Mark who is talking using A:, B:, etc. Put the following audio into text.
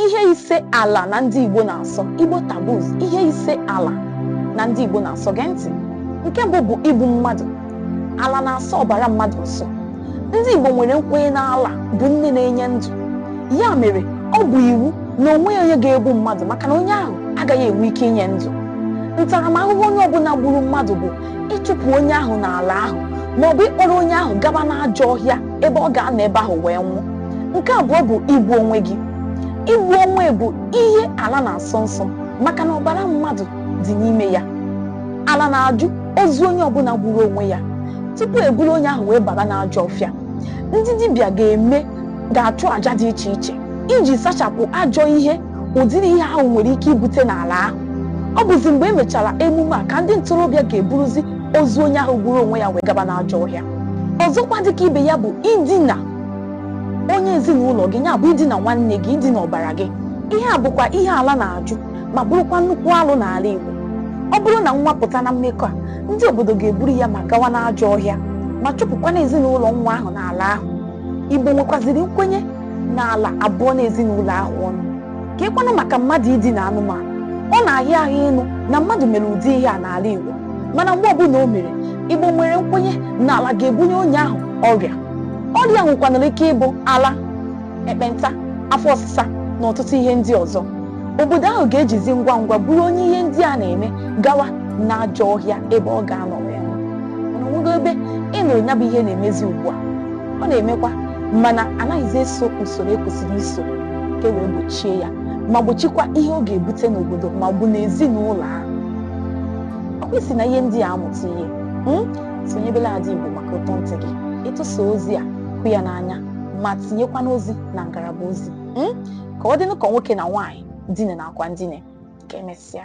A: ihe ise ala na ndị Igbo na-asọ Igbo taboos ihe ise ala na ndị Igbo na-asọ gee ntị nke mbụ bụ igbu mmadụ ala na-asọ ọbara mmadụ nsọ ndị Igbo nwere nkwenye na ala bụ nne na-enye ndụ ya mere ọ bụ iwu na o nweghị onye ga-egbu mmadụ maka na onye ahụ agaghị enwe ike inye ndụ ntaramahụhụ onye ọbụla gburu mmadụ bụ ịchụpụ onye ahụ n'ala ahụ maọbụ ịkpọrọ onye ahụ gaba n'ajọ ọhịa ebe ọ ga-anọ ebe ahụ wee nwụọ nke abụọ bụ igbu onwe gị igbu onwe bụ ihe ala na-asọ nsọ maka na ọbara mmadụ dị n'ime ya ala na-ajụ ozu onye ọbụla gburu onwe ya tupu e buru onye ahụ wee baba n'ajọ ọfịa ndị dibịa ga-eme ga-achụ àjà dị iche iche iji sachapụ ajọ ihe ụdịrị ihe ahụ nwere ike ibute n'ala ahụ ọ bụzi mgbe e mechara emume a ka ndị ntorobịa ga-eburuzi ozu onye ahụ gburu onwe ya wee gaba n'ajọ ọhịa ọzọkwa dịka ibe ya bụ idina onye ezinụlọ gị ya bụ idina nwanne gị idina ọbara gị ihe a bụkwa ihe ala na-ajụ ma bụrụkwa nnukwu alụ n'ala Igbo ọ bụrụ na nwa pụta na mmekọ a ndị obodo ga-eburu ya ma gawa n'ajọ ọhịa ma chụpụkwana ezinụlọ nwa ahụ n'ala ahụ Igbo nwekwaziri nkwenye na ala abụọna ezinụlọ ahụ ọnụ kekwanụ maka mmadụ idina anụmanụ ọ na-ahịa ahụ ịnụ na mmadụ mere ụdị ihe a n'ala Igbo mana mgbe ọbụla o mere Igbo nwere nkwenye na ala ga-ebunye onye ahụ ọrịa ọrịa nwekwanara ike ịbụ ala ekpenta afọ ọsịsa na ọtụtụ ihe ndị ọzọ obodo ahụ ga-ejizi ngwa ngwa buru onye ihe ndị a na-eme gawa n'ajọ ọhịa ebe ọ ga-anọ wee nwụọ mana o nwego ebe ị nụrụ ya bụ ihe na-emezi ugbu a ọ na-emekwa mana anaghịzi eso usoro e kwesịrị iso ka e wee gbochie ya ma gbochikwa ihe ọ ga-ebute n'obodo ma ọ bụ n'ezinụlọ ahụ ọ kwa i si na ihe ndị a amụta ihe hmm? sonyebela Ada Igbo maka ụtọ ntị gị ịtụsa ozi a hụ ya n'anya ma tinyekwana ozi na ngalaba ozi hmm? ka ọ dịnụ ka nwoke na nwaanyị dine na akwa ndine ka emesịa